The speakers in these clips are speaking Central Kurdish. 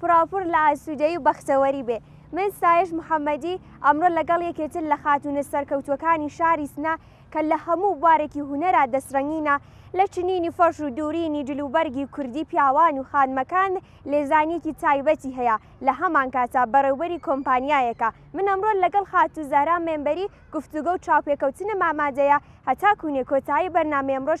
پڕاوپڕ لە ئاسوودەیی و بەختەوەری بێ. من سایەش محەمەدی، ئەمڕۆ لەگەڵ یەکێتر لە خاتوونە سەرکەوتووەکانی شاری سنە کە لە هەموو بوارێکی هونەرا دەستڕەنگینە، لە چنینی فەرش و دوورینی جلوبەرگی کوردی پیاوان و خانمەکان لێزانییەکی تایبەتی هەیە، لە هەمانکاتە بەڕێوبەری کۆمپانیایەکە. من ئەمڕۆ لەگەڵ خاتوو زەهرا مێمبەری گفتوگۆ و چاوپێکەوتنم ئامادەیە، هەتا کوونێ کۆتایی بەرنامەی ئەمڕۆش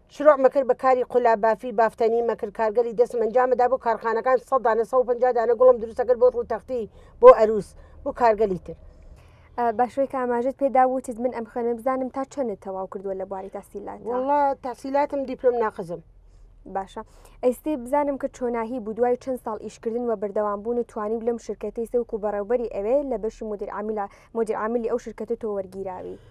شروع مەکر بە کاری قولا بافی بافتەنی مەکر کارگەری دەسم ئەنجامەدا بۆ کارخانەکان سەد دانە سە پنج دانە گوڵم دروستەکرد بۆ ڕوو تەختی بۆ ئەروس بۆ کارگەلی تر باشوەی کە ئاماژت پێدا وتت من ئەم خوێنم بزانم تا چەنت تەواو کردووە لە بواری تاسیلات وڵا تاسیلاتم دیپلم ناقزم باشە ئەیستی بزانم کە چۆناهی بوو دوای چەند ساڵ ئیشکردن و بەردەوام بوون و توانی لەم شرکەتی سەوک و بەڕێوبەری ئەوێ لە بەشی مدیر عامیلا مدیر عاملی ئەو شرکەتە تۆ وەرگیراوی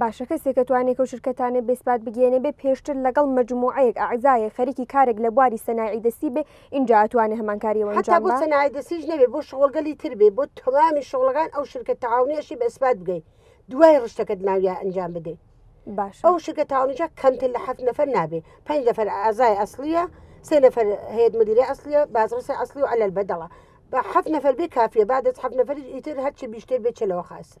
باشە کەسێک ئەتوانێ کەو شرکەتانە بێ سپات بگێنێ بێ پێشتر لەگەڵ مەجموعەیەک ئەعزایەک خەریکی کارێک لە بواری سەناعی دەستی بێ ئینجا ئەتوانێ هەمان کاری ئەوە ئەنجام با. حەتا بۆ سەناعی دەستیش نەبێ بۆ شغڵگەلی تر بێ بۆ تەوامی شغڵەکان ئەو شرکەت تەعاونیەشی بە ئسپات بگەی دوای ڕشتەکەت ناویا ئەنجام بدەی. باشە ئەو شرکە تاونیجا کەمتر لە حەفت نەفەر نابێ پنج نەفەر ئازای ئەسلیە سێ نەفەر هەیەت مدیرە ئەسلیە بازڕسە ئەسلی و عەلەل بەدەڵە بە حەفت نەفەر بێ کافیە با دەست حەفت نەفەری ئیتر هەرچی بیشتر بێ چلەوە خاستر.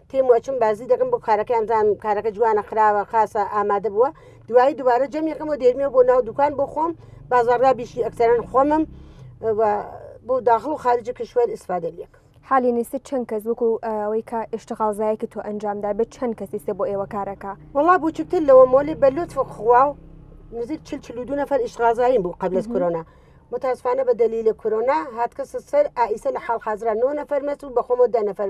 کلم و ئەچم بازی دەکەم بۆ کارەکە ئەنجام کارەکە جوانە خراوە خاصە ئامادە بووە دوایی دوبارە جەمیەکەم و دێرمێ بۆ ناو دوکان بۆ خۆم بازاردا بیشی ئەکتەران خۆمم بۆ داخڵ و خارجی کشوەر ئیسفادە لەکە حالی نیست چەند کەس وەکو ئەوەی کە ئشتغالزایەکی تۆ ئەنجامدا بێت چەند کەسیستە بۆ ئێوە کارەکە وڵا بچووکتر لەوە مۆلی بە لوت خوا و نزیک چل چلو دو نەفر ئشتغازاییم بوو قبلت کۆنا متاسفانە بە دەلی لە کۆنا هاتکەسە سەر ئایسە لە حاڵ حاضران نۆ نەفەر مەس و بەخۆمە دە نەفەر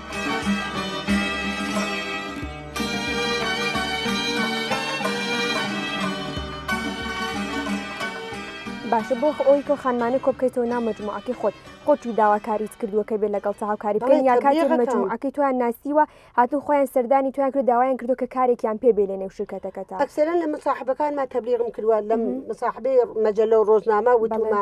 باشە بۆ ئەوەی کەو خانمانە کۆ بکەیتەوە ناو مەجموعەکەی خۆت خۆتی داواکاریت کردووە کە بێت لەگەڵ تاو کاری بکەن یا کاتی مەجموعەکەی تویان ناسیوە هاتون خۆیان سەردانی تویان کرد داوایان کردو کە کارێکیان پێ بێ لە نێو شرکەتەکەتا ئەکسەرەن لە مصاحبەکانمان تەبلیغم کردووە لەم مصاحبەی مەجللە و ڕۆژنامە وتومە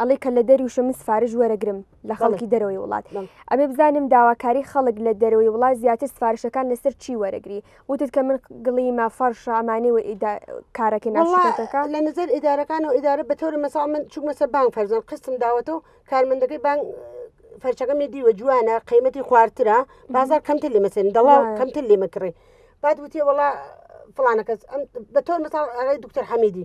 ئەڵێ کە لە دەری وشە من سفارش وەرەگرم لە خەڵکی دەرەوەی وڵات ئەبێ بزانم داواکاری خەڵک لە دەرەوەی وڵات زیاتر سفارشەکان لەسەر چی وەرەگری وتت کە من گڵی مافەڕ شامانێ و کارەکە ناشەکە لە نظر ئیدارەکان و ئیدارە بە تۆرە مەسا من چوو مەسە بانگ فەرزان قستم داوەتەوە کارمەندەکەی بانگ فەرچەکەمی دیوە جوانە قیمەتی خوارترە بازار کەمتر لێ مەسن دەڵا کەمتر لێ مەکڕێ بعد وتێ وڵا فلانە کەس بە تۆر مەسا ئەڵی دکتەر حەمیدی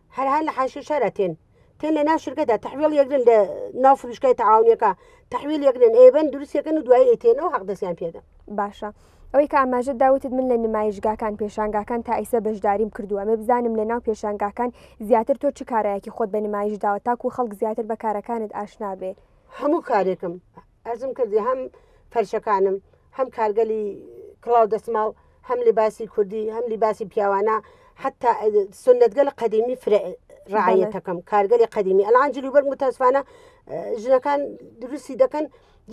هەر هەر لە حاشیە شارە تێن تێن لە ناو شرکەتە تحویل یەگرن لە ناو فروشکای تەعاونیەکە تحویل یەگرن ئێبن دروستیەکەن و دوای ئەیتێنەوە حەق دەستیان پێدە باشە ئەوەی کە ئاماژە داوتت من لە نمایشگاکان پێشانگاکان تا ئیسە بەشداریم کردووە مێ بزانم لە ناو پێشانگاکان زیاتر تۆ چ کارایەکی خۆت بە نمایش داوە تاکو خەڵک زیاتر بە کارەکانت ئاشنابێ هەموو کارێکم ئەزم کردی هەم فەرشەکانم هەم کارگەلی کڵاو دەسماڵ هەم لیباسی کوردی هەم لیباسی پیاوانە حتا سنتگە لە قەدیمی فرە ڕعاەتەکەم کارگەلی قەدیمی ئەلان جلوبەر متاسفانە ژنەکان دروستی دەکەن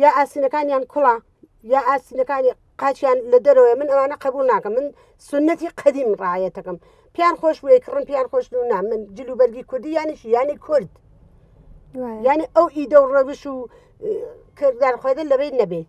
یا ئاسینەکانیان کوڵا یا ئاسینەکانی قاچیان لە دەرەوەی من ئەوانە قبول ناکەم من سنەتی قەدیم ڕایەتەکەم پیان خۆش بێ کڕم پیان خۆش نا من جلوبەرگی کوردی یانیش یانی کورد ینی ئەو ئیدە و ڕەوش و کردار خۆدە لەبێت نەبێت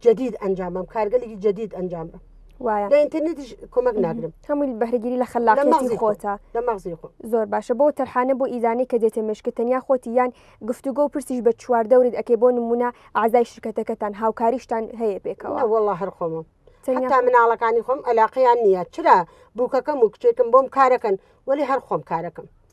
جدید ئەنجام بەم کارگەلێکی جدید ئەنجام بە وایە لە ئینتەرنێتیش کۆمەک ناگرم هەمووی بەهرگیری لە خەلاقی خۆتە لە مەغزی خۆ زۆر باشە بۆ تەرحانە بۆ ئیدانەی کە دێتە مشکە تەنیا خۆتی یان گفتوگۆ و پرسیش بە چوار دەورت ئەکەی بۆ نمونە ئازای شرکەتەکەتان هاوکاریشتان هەیە پێکەوە وڵە هەر خۆمە تا مناڵەکانی خۆم ئەلاقییان نییە چرا بووکەکەم و کچێکم بۆم کارەکەن وەلی هەر خۆم کارەکەم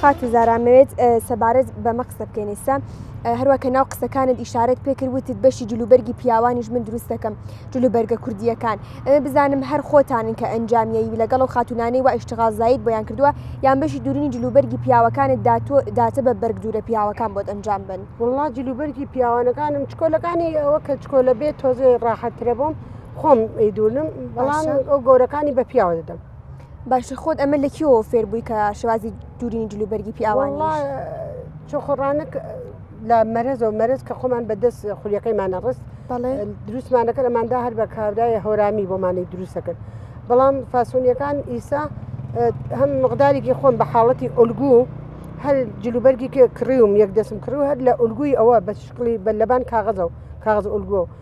خاتو زارا مەوێت سەبارەت بەمە قسە بکەین ئستا هەروە کە ناو قسەکانت ئیشارەت پێکرد وتت بەشی جلوبەرگی پیاوانیش من دروست دەکەم جلوبەرگە کوردیەکان ئەمە بزانم هەر خۆتانن کە ئەنجامیەوی لەگەڵ و خاتونانەی و ئیشتغازایت بۆیان کردووە یان بەشی دوورنی جلوبەرگی پیاوەکانت داتۆ داتە بە بەرگ دوورە پیاوەکان بۆت ئەنجام بن وڵا جلوبەرگی پیاوانەکانم چکۆلەکانی ئەوە کە چکۆلە بێت تۆزێ ڕاحەترە بۆم خۆم ئەیدونم بەڵام ئەو گۆرەکانی بە پیاوە دەدەم. باشە خۆت ئەمە لە کیەوە فێر بووی کە شوازی دوورینی جلوبەرگی پیاوان چۆخۆڕانک لە مەرەز و مەرز کە خۆمان بەدەست خولیەکەیمانە ڕست دروستمانەکە ئەماندا هەر بە کاودای هۆرامی بۆمانی دروستەکرد بەڵام فاسۆنیەکان ئیسا هەم مقدارێکی خۆم بە حاڵەتی ئۆلگو هەر جلوبەرگی کڕیوم یەک دەسم کڕو هەر لە ئۆلگوی ئەوە بە شکڵی بە لەبان کاغەزە و کاغز ئۆلگۆ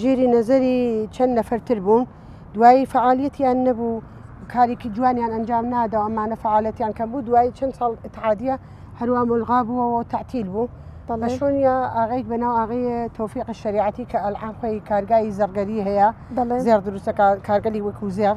ژێری نەزەری چەند نەفەرتر بوون دوایی فعالیتیان نەبوو کارێکی جوانیان ئەنجام نادا ئەمانە فعاالەتیان کە بوو دوایی چەند ساڵ اتحادە هەروە ملغا بووەوە تعتیل بوو بە شوۆنیا ئاغیک بەناو ئاغی تۆفیق شریعەتی کە ئەلعان خۆی کارگای زەرگەری هەیە زێر دروستەکە کارگەلی وەکو زێر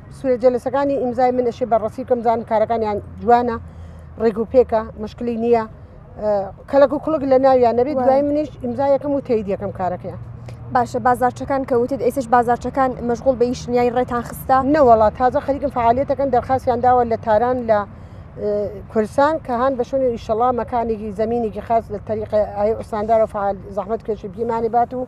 سوێ جەلەسەکانی ئیمزای من ئەشێ بەڕەسی کەم زانم کارەکانیان جوانە ڕێگ و پێکە مشکلی نییە کەلک و کوڵک لە ناویان نەبێت دوای منیش ئیمزا یەکەم و تێید یەکەم کارەکەیان باشە بازارچەکان کەوتت ئێسش بازارچەکان مەشغول بە یشنیای ڕێتان خستە نەوەڵا تازە خەریکم فعاالەتەکەن دەرخاستیان داوە لە تاران لە کورسان کە هاان بە شوێنی ئیشەڵا مەکانێکی زمینێکی خاص لە تەریقی ئای ئوساندارە فعال زەحمت کێشی بیمانی بات و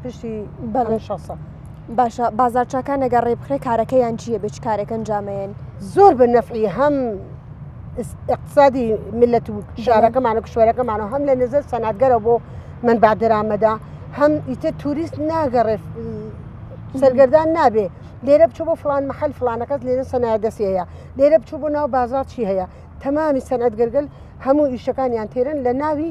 پشتی بەڵێ شەسە باشە بازارچکان نەگە ڕێ بخرێ کارەکەیان چییە بچ کارەکەن جامەیەن زۆر بە نەفعی هەم اقتصادی ملەت و شارەکەمان و کشوەرەکەمان و هەم لە نزە سەناتگەرە بۆ من با درامەدا هەم ئیتە توریست ناگەڕێ سەرگەردان نابێ لێرە بچوو بۆ فلان محل فلانەکەس لێرە سەنا دەست هەیە لێرە بچوو بۆ ناو بازار چی هەیە تەمامی سەنەت گەرگل هەموو ئیشەکانیان تێرن لە ناوی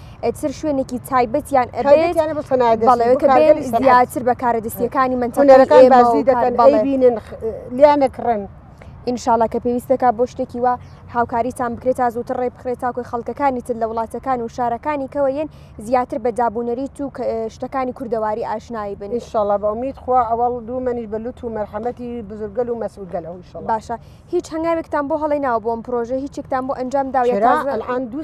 ئەتر شوێنێکی تایبەتیان ئەبێت زیاتر بە کارە دەستیەکانی منتەکان بازی دەکەن بڵێبینن لیان نەکڕن. ئینشاالله کە پێویستەکە بۆ شتێکی وە هاوکاریتان بکرێت تا زووتر ڕێ بخرێت تاکۆی خەڵکەکانی تر لە وڵاتەکان و شارەکانی کەەوە یەن زیاتر بە دابوونەریت و شتەکانی کوردەواری ئاشنایی بن ئینشاالله بە ئومید خوا ئەوەڵ دوو منیش بە لوت و مەرحەمەتی بزرگەل و مەسوولگەل ئەو باشە هیچ هەنگاوێکتان بۆ هەڵی ناو بۆم پرۆژە هیچێکتان بۆ ئەنجام داوێت دوو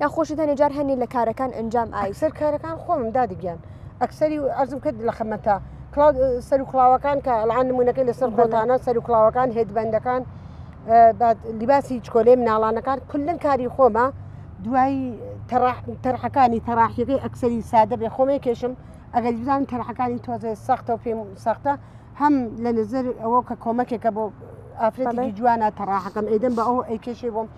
یان خۆشت هەنێ جار هەنێ لە کارەکان ئەنجام ئای. ئەکسەر کارەکان خۆمم دادە گیان ئەکسەری ئەرزم کرد لە خەمەتە کلااو سەر و کلااوەکان کە ئەڵان نمونونەکەی لەسەر گۆتانە سەر و کلااوەکان هێدبندەکان لیباسی چکۆلێ مناڵانەکان کلن کاری خۆمە دوایی تەرحەکانی تەراحیەکەی ئەکسەری سادە بێ خۆمێ کێشم ئەگەر بزان تەرحەکانی تۆزێ سەختە و پێم سەختە هەم لە نزر ئەوە کە کۆمەکێکە بۆ ئافرەتی جوانە تەراحەکەم ئەیدەم بە ئەو ئەیکێشێ بۆم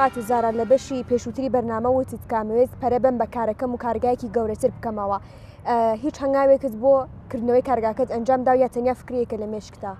خاتو زارا لە بەشی پێشووتری بەرنامە وتت کامەوێت پەرە بەم بە کارەکەم و کارگایەکی گەورەتر بکەمەوە هیچ هەنگاوێکت بۆ کردنەوەی کارگاکەت ئەنجام دا یا تەنیا فکرەیەکە لە مێشکتا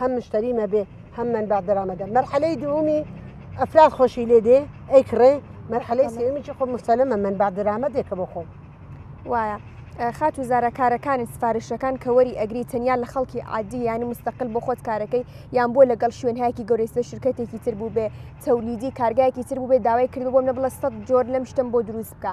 هەم مشتری مەبێ هەم منبع دەرامەدە مەرحەلەی دوومی ئەفراد خۆشی لێ دێ ئەی کڕێ مەرحەلەی سێمیی خۆ مستەلەمە من با درامەدێکە بۆ خۆم وایە. خات و زارە کارەکانی سفارشەکان کە وەری ئەگری تەنیا لە خەڵکی عادی ینی مستەقل بۆ خۆت کارەکەی یان بۆ لەگەڵ شوێنهایکی گەورەیسە شرکەتێکی تر بوو بێ تەولیدی کارگایەکی تر بووێ داوای کرد بۆم نە بڵە سە جۆر لەم شتم بۆ دروست بکە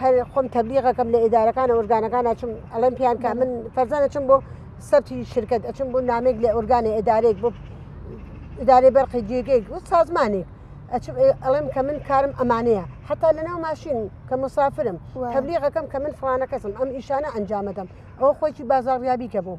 هەر خۆم تەبلیغەکەم لە ئیدارەکانە ئۆرگانەکان ئەچم ئەڵێم پیان کا من فەرزان ئەچم بۆ سەبتی شرکت ئەچم بۆ نامێک لە ئۆرگانی ئیدارێک بۆ ئیدارەی بەرقی جێگەیەک و سازمانێک ئەچم ئەڵێم کە من کارم ئەمانەیە حتا لەناو ماشین کە مسافرم تەبلیغەکەم کە من فلانە کەسم ئەم ئیشانە ئەنجامەدەم ئەو خۆی بازاڕیابی کە بوو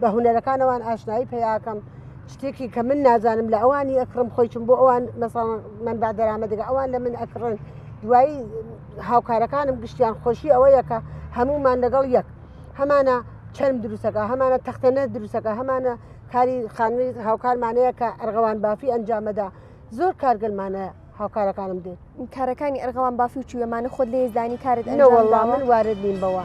بە هوەرەکانەوان ئاشنایی پیاکەم شتێکی کە من نازانم لە ئەوانی ئەکڕم خۆیچم بۆ ئەوان مەساڵ من با دەرامەدەگە ئەوان لە من ئەکڕن دوایی هاوکارەکانم گشتیان خۆشی ئەوەیە کە هەمومان لەگەڵ یەک هەمانە چەند دروستەکە هەمانە تەختەنە دروستەکە هەمانە کاری خانوی هاوکارمانەیە کە ئەرغەوان بافی ئەنجامەدا زۆر کارگەلمانە هاوکارەکانم دێت کارەکانی ئەرغەوان بافی و چوێمانە خۆت لێزدانی کارت ئەوە من وارد نیم بەوە.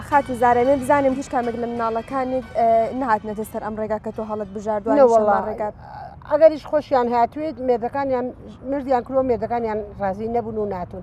خاتو زارە من بزانم هیچ کامێک لە مناڵەکانت نهاتنەتە سەر ئەم ڕێگا کە تۆ هەڵت بژاردووەوەڵا ڕێگات. ئەگەریش خۆشیان هاتوێت مێردەکانیان مردیان کرۆ مێردەکانیان ڕازی نەبوون و ناتون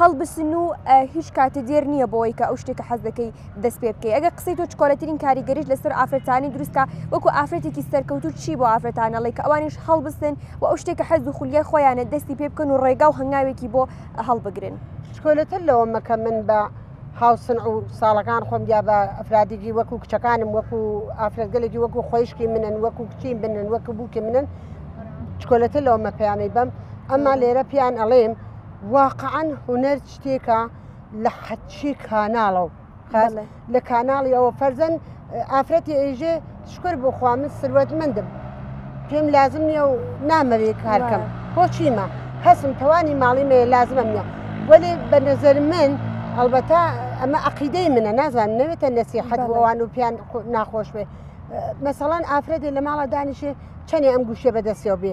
هەڵبسن و هیچ کاتێ دێر نییە بۆی کە ئەو شتێک کە حەز دەکەی دەست پێ بکەی ئەگە قسەی تۆ چکۆلەترین کاریگەریش لەسەر ئافرەتانی دروستکە وەکو ئافرەتێکی سەرکەوتوو چی بۆ ئافرەتانەڵی کە ئەوانیش هەڵبستن و ئەو شتێک کە حەز و خولیای خۆیانە دەستی پێ بکەن و ڕێگا و هەنگاوێکی بۆ هەڵبگرن چکۆلەتر لەوە مەکە من بە هاوسن و ساڵەکان خۆم یا بە ئەفرادێکی وەکو کچەکانم وەکو ئافرەتگەلێکی وەکو خۆشکی منن وەکو کچی بنن وەکو بووکی منن چکۆلەتە لەوە مەپیانەی بەم ئەمما لێرە پیان ئەڵێم واقعەن هونەر شتێکە لە حەچی کاناڵە و لە کاناڵی ئەوە فەرزەن ئافرەتی ئێژێ شکر بخوا من سروەت مندم پێم لازم نییە و نامەوێ کارکەم بۆچیمە هەسم توانی ماڵی مێ لازمم نیە وەێ بە نەزەر من هەڵبەتا ئەمە عقیدەی منە نازان نەوێتە نەسی حەدوەوان و پیان ناخۆش بێ مەسەڵەن ئافرەتی لە ماڵە دانیشێ چەنێ ئەم گوشێ بەدەستەوە بێ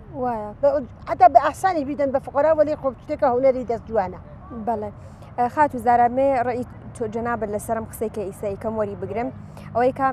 وایە حتا بە ئاسانی بیدەن بە فقرا وەلی خۆ شتێکە هوەری دەست جوانە بەڵێ خاتو زارامێ ڕێی جەنابەت لەسرم قسێکە ئیسەی کەم وەری بگرم ئەوەی کە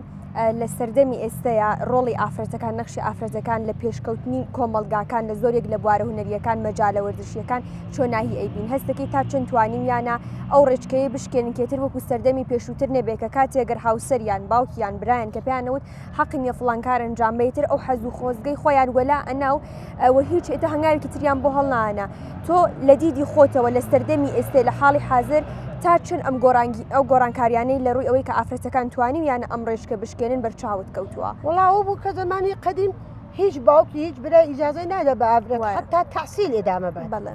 لە سەردەمی ئێستەیە ڕۆڵی ئافرەتەکان نەخشی ئافرەتەکان لە پێشکەوتنی کۆمەلگاکان لە زۆرێک لە بوارە هوەریەکان مەجالە وەرزشیەکان چۆناهی ئەیبین هەستەکەی تا چەند توانیویانە ئەو ڕێچکەیە بشکێنکێتر وەکو سەردەمی پێشووتر نەبێت کە کاتێگەر هاوسەریان باوکیان برایان کە پێیانەوت حەقی نیە فڵان کار ئەنجام بە یتر ئەو حەزو خۆزگەی خۆیان وەلا ئەنا و ئەوە هیچ ئێتە هەنگاوێکی تریان بۆ هەڵنانە تۆ لە دیدی خۆتەوە لە سەردەمی ئێستێ لە حاڵی حاضر تا چن ئەم گۆرانگی ئەو گۆرانکاریانەی لە ڕووی ئەوەی کە ئافرەتەکان توانی یانە ئەم ڕێشکە بشکێنن بەرچاوت کەوتووە وڵاو بوو کە زەمانی قەدیم هیچ باوکی هیچ برای ئیجازەی نادە بە ئافرەت حتا تحسیل ئدامە بە بەڵێ.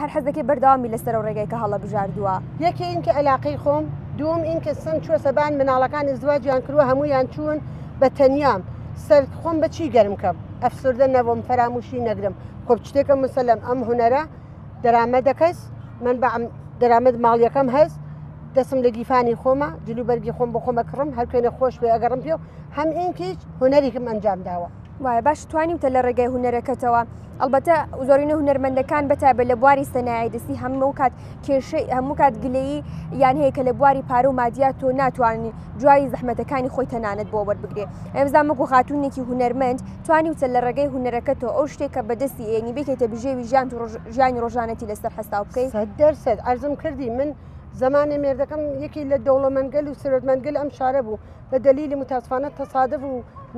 هەر حەز دەکەی بەردەوام بی لەسەر و ڕێگای کە هەڵەبژاردووە. یەکێ ئین کە ئەلاقەی خۆم دووم ئین کە سم چووە سەبان مناڵەکان ئزدواجیان کرووە هەموویان چوون بە تەنیام سەر خۆم بە چی گەرم کەم ئەفسوردە نەبووم فەرامووشی نەگرم خۆ چتێکە مسەلەم ئەم هونەرە دەرامەدەکەس من بە دەرامەت ماڵیەکەم هەست دەسم لە گیفانی خۆمە جلوبەرگی خۆم بۆ خۆمە کڕم هەر کوێنە خۆش پێ ئەگەڕم پێ و هەم ئینکیچ هونەرێکم ئەنجام داوە وایە باش توانیوتە لە ڕێگای هوەرەکەتەوە ئەلبەتە زۆرینە هوەرمەندەکان بەتابێت لە بواری سەنایە دەستی هەموو کات کێشەی هەموو کات گلەیی یان هەیە کە لە بواری پارە و مادیات تۆ ناتوانانی دوای زەحمەتەکانی خۆی تەنانەت بۆ وەربگرێ ئەمزانمەگو خاتونێکی هوەرمەند توانی وچە لە ڕێگەی هوەرەکە تۆ ئەو شتێک کە بەدەستی ئێنی بێتێتە بژێوی ژیان ژیانی ڕۆژانەتی لەسەر حساب بکەیت دەرسەت ئەرزم کردی من زمانی مێردەکەم یەکی لە دەوڵەمەندگەل و سرۆتمەندگەل ئەم شارە بوو بە دەلیلی متاسفانە تەسادف و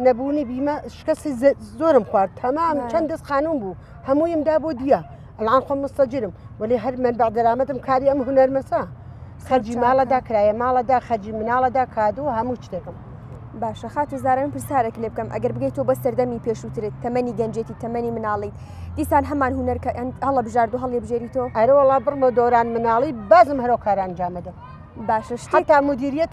نەبوونی بیمە شکستی زۆرم خوارد تەمام چەند دەست خانوم بوو هەموویم دا بۆ دیە ئەلان خۆم مستەجرم ولی هەر من بە دەرامەتم کاری ئەم هوەرمەسە خەرجی ماڵەدا کرایە ماڵەدا خەرجی مناڵەدا کادو هەموو شتێکم باشە خاتو زارم پرسارێک لێ بکەم ئەگەر بگەیت تۆ بە سەردەمی پێشووترێت تەمەنی گەنجێتی تەمەنی مناڵیت دیسان هەمان هوەر کە هەڵە بژارد و هەڵێ بژێری تۆ ئەرەوەڵا بڕمە دۆران مناڵی بازم هەرۆکاران جامەدە باشە شتا مدیریەت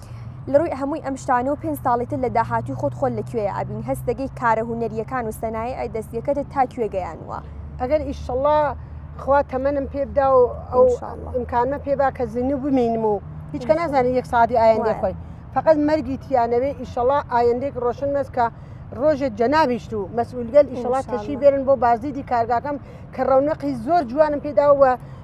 لەڕووی هەمووی ئەم شتانەو پێنج ساڵی تر لە داهاتووی خۆت خۆت لە کوێ ئەبین هەست دەگەی کارە هونەریەکان و سەنایعی دەستیەکەتت تا کوێ گەیانووە. ئەگەر ئیشەڵا خوا تەمەنم پێ بدا و ئەو ئیمکانمە پێ با کە زیندوو بمینم و هیچ کە نازانێت یەک سەعاتی ئایندەی خۆی فەقەت مەرگی تیانەوێ ئیشەڵا ئایندەیەک ڕۆشن بێت کە ڕۆژێک جەنابیشت و مەسئولگەل ئیشەڵا تەشی بێرن بۆ بازدیدی کارگاکەم کە ڕەونەقی زۆر جوانم پێداوە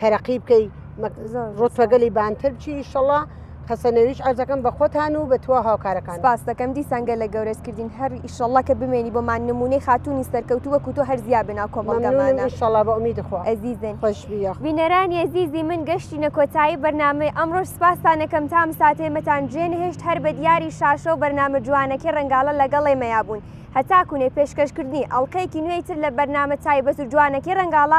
تەرەقی بکەی ڕۆتەگەلی بانتر چی شەڵا حەسەنەویش ئەرزەکەم بە خۆتان و بە توا هاوکارەکان باس دەکەم دیسان گەلە گەورەس کردین هەر ئیشەڵا کە بمێنی بۆمان نمونەی خاتونی سەرکەوتو وەکو تۆ هەرزیا بنا کۆمەڵگەمانە شڵا بە ئومید خۆ ئەزیزن خۆشبیە بینەرانی ئەزیزی من گەشتینە کۆتایی بەرنامەی ئەمڕۆژ سپاستانەکەم تام ساتێمەتان جێ نەهێشت هەر بە دیاری شاشە و بەرنامە جوانەکەی ڕەنگاڵە لەگەڵێ مەیابوون هەتاکوونێ پێشکەشکردنی ئەڵلقەیەکی نوێی تر لە بەرنامە تایبەت و جوانەکەی ڕەنگاڵە